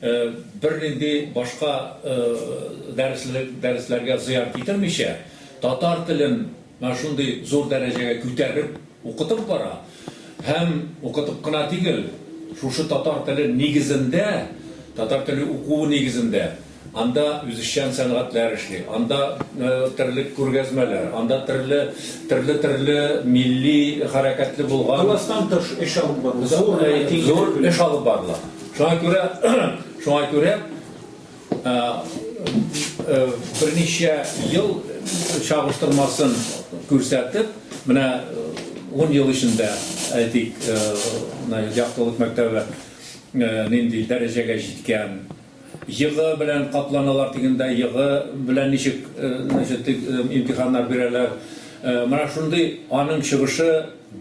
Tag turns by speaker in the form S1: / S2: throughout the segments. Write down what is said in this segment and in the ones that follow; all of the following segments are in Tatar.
S1: Бернинди башка дәресләргә зыян китермичә, татар телен менә шундый зур дәрәҗәгә күтәреп укытып бара. Һәм укытып кына тигел, шушы татар теле нигезендә, татар теле укуы нигезендә анда үзешчән сәнгатьләр эшли, анда терлек күргәзмәләр, анда төрле, төрле-төрле милли хәрәкәтле булган. Класстан тыш эш
S2: алып барыла. Зур
S1: эш алып барыла. Шуңа күрә, шуңа күрә берничә ел чагыштырмасын күрсәтеп, менә 10 ел эчендә, әйтик, Яктылык мәктәбе нинди дәрәҗәгә җиткән, йогы белән капланалар дигәндә, йогы белән ничек имтиханнар бирәләр. Менә шундый аның чыгышы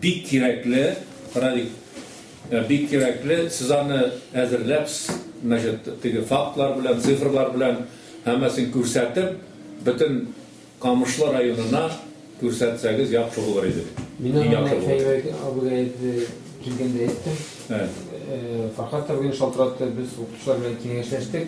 S1: бик кирәкле, Радик. Бик кирәкле, сез аны әзерләпсез, значит, теге фактлар белән, цифрлар белән һәммәсен күрсәтеп, бөтен Камышлы районына күрсәтсәгез яхшы булыр иде. Мин аны менә
S3: Фәйрәк абыйга әйтте, килгәндә әйттем. Фәрхат абыйны шалтыратты, без укытучылар белән киңәшләштек.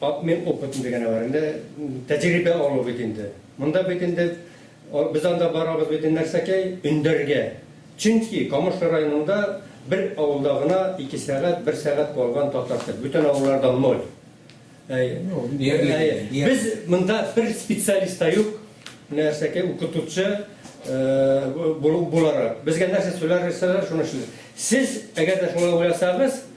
S4: Обмен опытом дигәне бар инде, тәҗрибә алу бит инде. Монда бит инде без анда барабыз бит инде нәрсәкәй, өндәргә. Чөнки Камышлы районында бер авылда гына ике сәгать, бер сәгать калган татар тел. Бүтән авылларда ноль. Без монда бер специалист та юк, нәрсәкәй, укытучы буларак. Безгә нәрсә сөйләр, шуны эшлибез. Сез, әгәр дә шулай уйласагыз,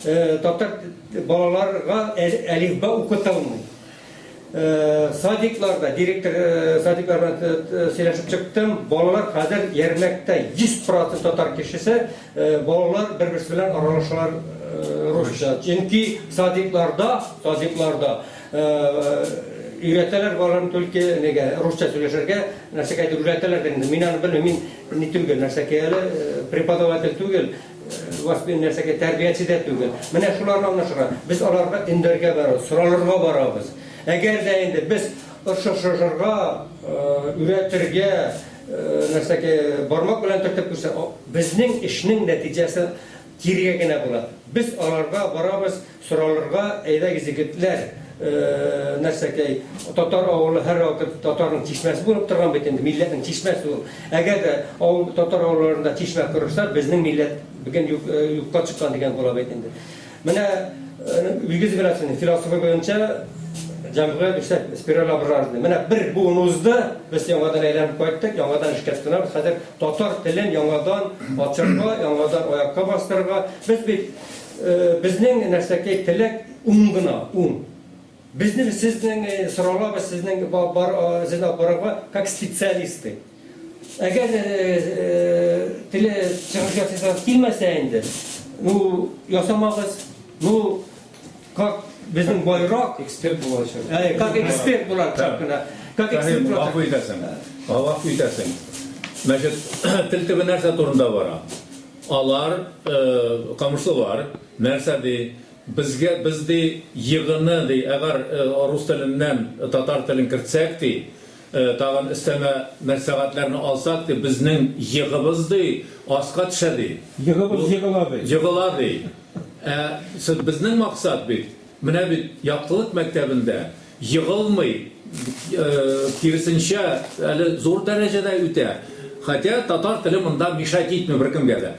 S4: Татар балаларга әлифба укытылмый. Садикларда, директор садиклар белән сөйләшеп чыктым, балалар хәзер ярмәктә 100% татар кешесе, балалар бер-берсе белән аралашалар русча. Чөнки садикларда, садикларда өйрәтәләр балаларны только нигә, русча сөйләшергә, нәрсәгәдер өйрәтәләр дә инде. Мин аны белмим, мин ни түгел, нәрсә әле преподаватель түгел. Воспин нәрсәгә тәрбияче дә түгел. Менә шуларны аңлашырга. Без аларга өндәргә барабыз, соралырга барабыз. Әгәр дә инде без ошышырга, өйрәтергә, нәрсәгә бармак белән төртеп күрсә, безнең эшнең нәтиҗәсе кирегә генә була. Без аларга барабыз, Соралырга, әйдәгез, егетләр, нәрсәкәй, татар авылы һәрвакыт татарның чишмәсе булып торган бит инде, милләтнең чишмәсе ул. Әгәр дә авыл, татар авылларында чишмә корырса, безнең милләт бүген юк, юкка чыккан дигән була бит инде. Менә Илгиз Гыйләфшинең философы буенча җәмгыять үсә, спираль образный. Менә бер буын узды, без яңадан әйләнеп кайттык, яңадан эшкә тотынабыз. Хәзер татар телен яңадан ачарга, яңадан аякка бастырырга. Без бит Безнең нәрсәкәй теләк ун гына, ун. Безнең сезнең сорауларыбыз сезнең зена барырга как специалисты. Әгәр теле чыгыш ясыйсыз килмәсә инде, ну ясамагыз, ну как безнең байрак эксперт булачак.
S3: Как эксперт
S4: булачак кына.
S1: Как
S4: эксперт булачак. Гафу итәсең.
S1: Гафу
S4: итәсең.
S1: Мәҗит тел төбе нәрсә турында бара? Алар, камышлылар, нәрсә ди, безгә, без ди, егыны ди, әгәр рус теленнән татар телен кертсәк ди, тагын өстәмә мәнфәгатьләрне алсак ди, безнең егыбыз ди, аска төшә ди. Егыбыз егыла ди. Егыла ди. Ә безнең максат бит, менә бит, яктылык мәктәбендә, Егылмый, киресенчә, әле зур дәрәҗәдә үтә. Хотя татар теле монда мешать итми беркемгә дә.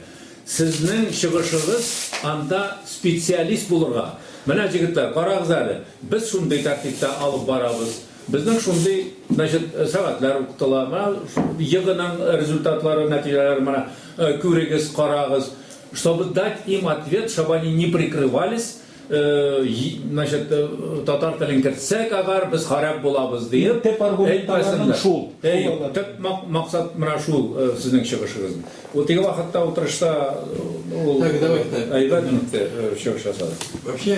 S1: Сезнең чыгышыгыз анда специалист булырга. Менә, җегетләр, карагыз әле, без шундый тәртиптә алып барабыз. Безнең шундый, значит, сәгатьләр укытыла. Менә җыгының результатлары, нәтиҗәләре менә, күрегез, карагыз. Чтобы дать им ответ, чтобы они не прикрывались. Значит, татар телен кертсәк агар, без харап булабыз диеп. Төп аргументларының шул. Әй, төп максат менә шул сезнең чыгышыгыз. Вот теге вакытта утырышта ул Так, давайте. Әйбәт минутта чыгыш ясады. Вообще,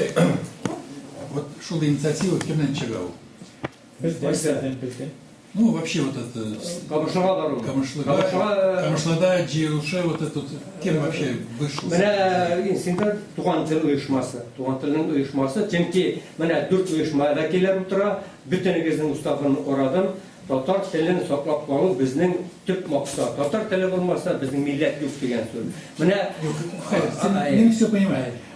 S2: вот шул инициатива кемнән чыга ул? Бездән. Бездән. Ну, вообще вот это... Камышлыга бару. Камышлыга. Камышлада җыелышы вот этот... Кем вообще вышел? Менә инсинда
S4: туган тел оешмасы. Туган телнең оешмасы. Чөнки менә дүрт оешма вәкилләр утыра. Бөтенегезнең уставын карадым. Татар телен саклап калу безнең төп максат. Татар теле булмаса, безнең милләт юк дигән сүз. Менә... Мин
S2: все понимаю.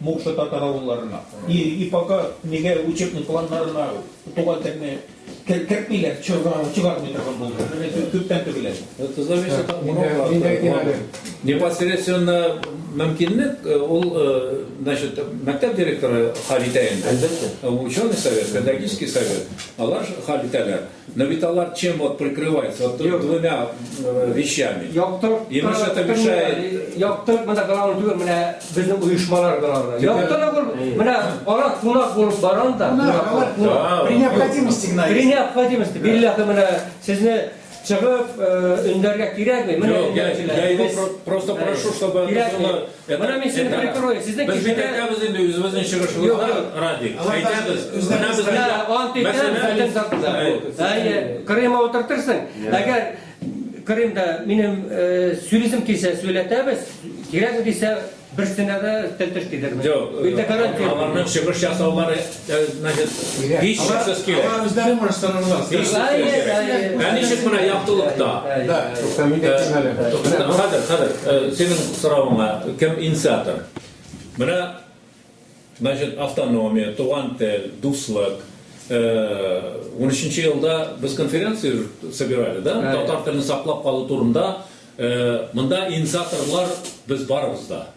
S5: Мукшы татар авылларына и пока нигә учетный планнарына туган телне кертмиләр, чыгармый торган булды. Менә төптән түгел әле. Это зависит
S1: от уроклардан. Непосредственно мөмкинлек ул, значит, мәктәп директоры хәл итә инде. Әлбәттә. Ученый совет, педагогический совет, алар хәл итәләр. Но ведь алар чем вот прикрывается? Вот Юк. двумя э, вещами. Яктырып, И мы что-то мешает. Яктырып, менә гранул
S4: түгел, менә безнең оешмалар гранул. Яктырып ул, менә ара кунак булып барам да. Кунак, алар кунак. При необходимости
S2: гына. При необходимости.
S4: Билләхи менә сезне чыгып, э, өндәргә кирәкми. Менә
S1: Просто прошу, чтобы это было Ә менә мин сине прикрою.
S4: Сезнең Без бит әйтәбез инде
S1: үзебезнең чыгышыбызда, Радик. Әйтәбез. Менә безнең... Я ант итәм, бәтен
S4: сатыда. Әйе, Крыма утыртырсың. Әгәр Крымда минем сүлизм килсә, сүләтәбез. Кирәк дисә, берсенә дә тел теш тидермәс. Юк, аларның
S1: чыгыш ясаулары Значит, һич
S2: шиксез килә. Алар үзләре может станарга. Ә
S1: ничек менә яктылыкта? Да, тукта мин дә кимәле. Хәзер, хәзер, синең соравыңа кем инициатор? Менә, значит, автономия, туган тел, дуслык, 13 э, елда без конференцию собирали, да? Татар телен саклап калу турында. Э, монда инициаторлар без барыбыз да.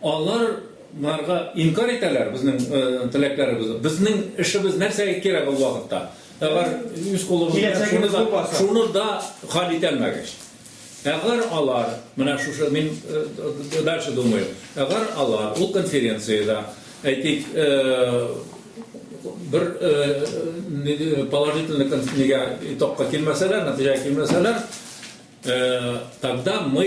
S1: Алар нарга инкарь итәләр безнең теләкләребезне. Безнең эшебез нәрсәгә кирәк ул вакытта? Әгәр үз кулыбыз белән шуны да хәл итә алмагач. Әгәр алар, менә шушы мин дальше думаю, әгәр алар ул конференциядә, әйтик, бер положительный итогка килмәсәләр, нәтиҗәгә килмәсәләр, тогда мы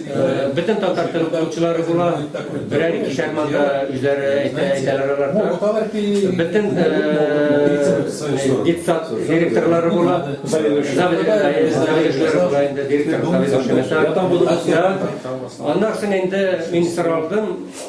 S4: Бөтен татар теле укытучылары була, берәр икешәр манда үзләре әйтә, әйтәләр алар. Бөтен детсад директорлары була, заведующийлары була инде, директор, заведующий, начальник. Аннан соң инде мин соралдым,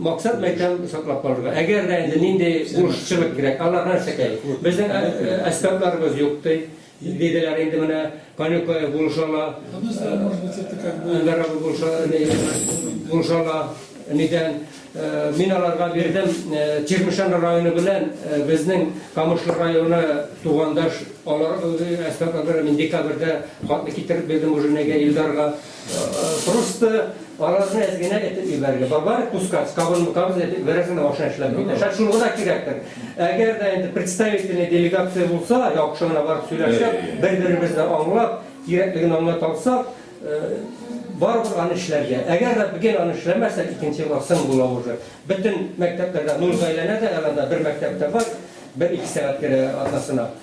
S4: Максат мәктәп саклап калырга. Әгәр дә инде нинди бурыччылык кирәк, алар нәрсәкәй? Безнең әсбапларыбыз юк, ди. Диделәр инде менә Канюкаев булышала. Әнвәр абый булышала. Нидән? Мин аларга бирдем. Чирмешән районы белән безнең Камышлы районы тугандаш. Алар әсбапларны мин декабрьдә хатны китереп бирдем уже Илдарга. Просто арасына әз генә этеп ибәрергә. Бабар кускац, кабын букабыз этеп ибәрәсен машина эшләп бит. Шат шул гына кирәктер. Әгәр дә инде представительный делегация булса, яхшы гына барып сөйләшеп, бер-беребезне аңлап, кирәклеген аңлап алсак, барыбер аны эшләргә. Әгәр дә бүген аны эшләмәсәк, икенче елга сын була уже. Бөтен мәктәпләрдә, Нурзайләнә дә, әле анда бер мәктәптә бар, бер-ике сәгать керә атнасына.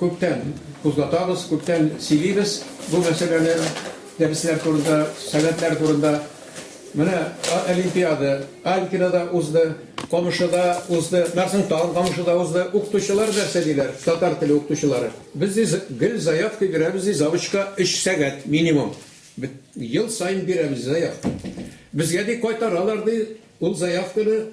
S2: Күптән кузгатабыз, күптән сөйлибез бу мәсьәләне, дәресләр турында, сәләтләр турында. Менә олимпиада Алькинада узды, Камышыда узды, Нарсың тагын Камышыда узды. Укытучылар нәрсә диләр, татар теле укытучылары? Без ди гел заявка бирәбез ди, завучка өч сәгать минимум. Ел саен бирәбез заявка. Безгә ди кайтаралар ди ул заявканы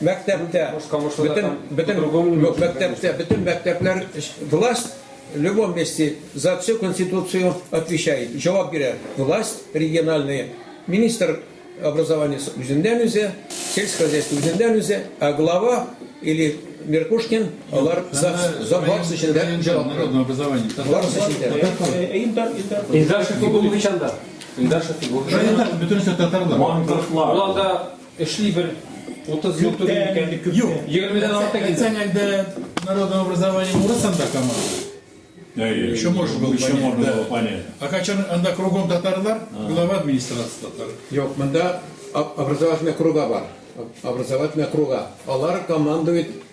S2: Мәктәптә, бөтен, бөтен, мәктәптә, бөтен мәктәпләр власть в любом месте за всю конституцию отвечает, җавап бирә. Власть региональная, министр образования үзеннән үзе, сельское хозяйство үзеннән үзе, ә глава или Меркушкин, алар за, за барысы өчен дә җавап бирә. Народное образование.
S1: Барысы өчен дә. Илдар,
S2: Илдар.
S3: Илдар Шәфигуллович анда. Илдар Шәфигуллович. Районда бөтенесе
S1: татарлар. Маңгыртлар. Ул анда
S3: Эшли бер 30 ел түгел икән. Юк. 20 дән артык инде. Әйтсәң әлдә
S1: народное образование урыс анда команда. Еще может быть. Еще можно было понять. А качан анда кругом татарлар, глава администрации татар. Юк, монда
S2: образовательная круга бар. Образовательная круга. Алар командует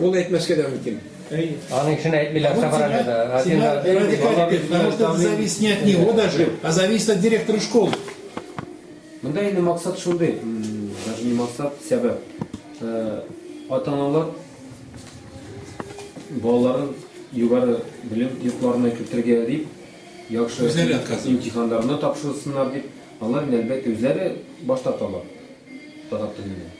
S1: Ул әйтмәскә
S2: дә мөмкин. Аның өчен
S4: әйтмиләр собраниедә.
S1: Это зависит не от него даже, а зависит от директора школы.
S3: Монда инде максат шундый, даже не максат, сәбәп. Ата-аналар балаларын югары белем йортларына кертергә дип, яхшы имтиханнарны тапшырсыннар дип, алар әлбәттә үзләре баш тарталар. Татар телендә.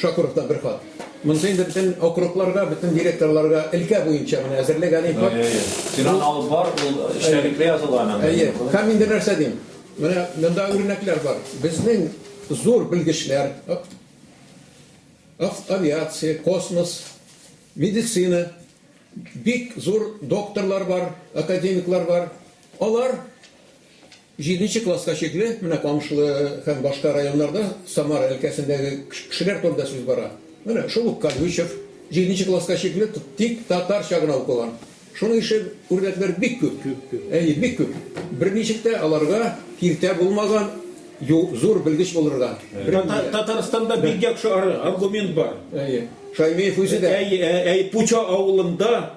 S6: Шакуров та бер хат. Монысы инде бөтен округларга, бөтен директорларга өлкә буенча менә әзерлек әле хат. Әйе, әйе. Син аны алып бар,
S1: ул эчтәлекле язылган анда. Әйе. Һәм инде нәрсә
S6: дим? Менә монда үрнәкләр бар. Безнең зур белгечләр, авиация, космос, медицина, бик зур докторлар бар, академиклар бар. Алар Җиденче класска чикле менә Камышлы һәм башка районнарда Самара өлкәсендәге кешеләр турында сүз бара. Менә шул ук Колючев җиденче класска чикле тик татарча гына укыган. Шуның ише үрнәкләр бик күп. Әйе, бик күп. Берничек тә аларга киртә булмаган зур белгеч булырга. Татарстанда
S5: бик яхшы аргумент бар. Әйе. Шаймиев
S6: үзе дә. Әйе, Пуча авылында.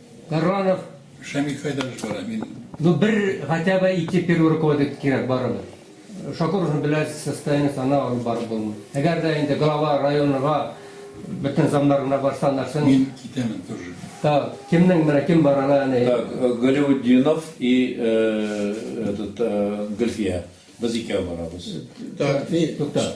S4: Баранов Шамил кайда
S2: эш бара мин. Ну бер
S4: хотя бы ике первый руководитель кирәк барыбер. Шакур узын беләсез состояние сана алып барып булмый. Әгәр дә инде глава районга бөтен замнар гына барса нәрсен. Мин китәмен тоже.
S2: Так кемнең
S4: менә кем бар аны әни. Так Галиутдинов
S1: и этот Гөлфия без икәү барабыз. Так ни.
S6: Тукта.